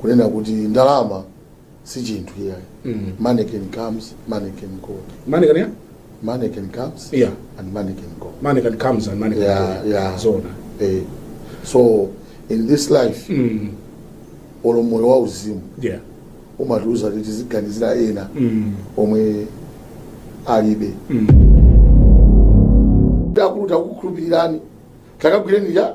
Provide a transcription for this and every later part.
kunena kuti ndalama si chinthu iyayi Mm. money can comes money can go Money can, yeah? money can comes Yeah. and money can go Money can comes and money can Yeah, go. yeah. Zona. eh. so in this life Mm. olo moyo wa uzimu Yeah. umatiuza kuti tiziganizira ena Mm. omwe alibe Mm. akulu takukhulupirirani takagwireni ya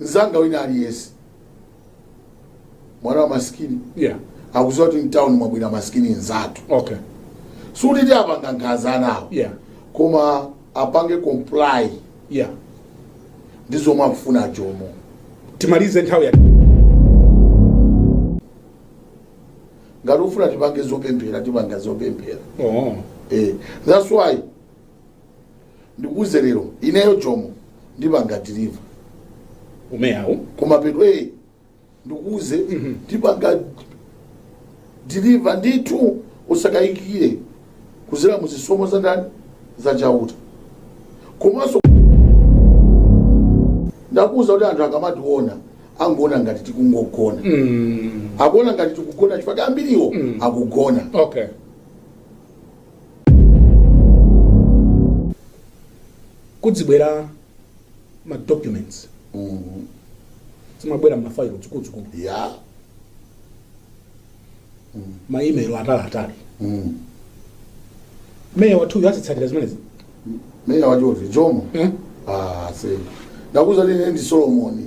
mzanga wina aliyense mwana wa masikini yeah akudziwa kuti mtown mwabwera masikini nzatu okay sikuti tiwapanga nkhanza anawo yeah koma apange comply yeah ndi zomwe akufuna jomo timalize nthawi ya ngati ufuna tipange zopemphera tipanga zopemphera oh eh, that's why ndikuuze lero ineyo jomo ndipanga deliver umeyawu koma pheto ee ndikuuze ndipanga deliver ndithu usakayikire kudzera mu zisomo za ndani za chauta komanso ndakuuza kuti anthu akamationa angoona ngati tikungogona mm. akuona ngati tikugona chifukwa ambiriwo Mm. akugona okay kuzibwera ma documents Mhm. zimabwera m'mafailo zikuluzikulu ya ma email ataliatali Mhm. meya wathuyu azitsatira zimenezi meya wachotani jomo Eh? ah se ndakuuza ine ndi solomoni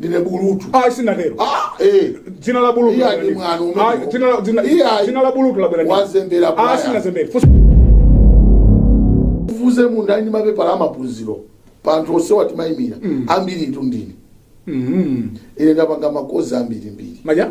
ndine bulutu ayi sinatero Ah, eh. dzina la bulutu Iya, ndi mwano umenewo Ayi, dzina la- dzina- Iya, dzina la bulutu labwera ndi- wazembera bwana. ayi sinazembera Fusa- ufufuze munthu ali ndi mapepala amaphunziro pa anthu onse amene timayimira ambiri ndi ndine Mhm. ine ndapanga makozi ambirimbiri maja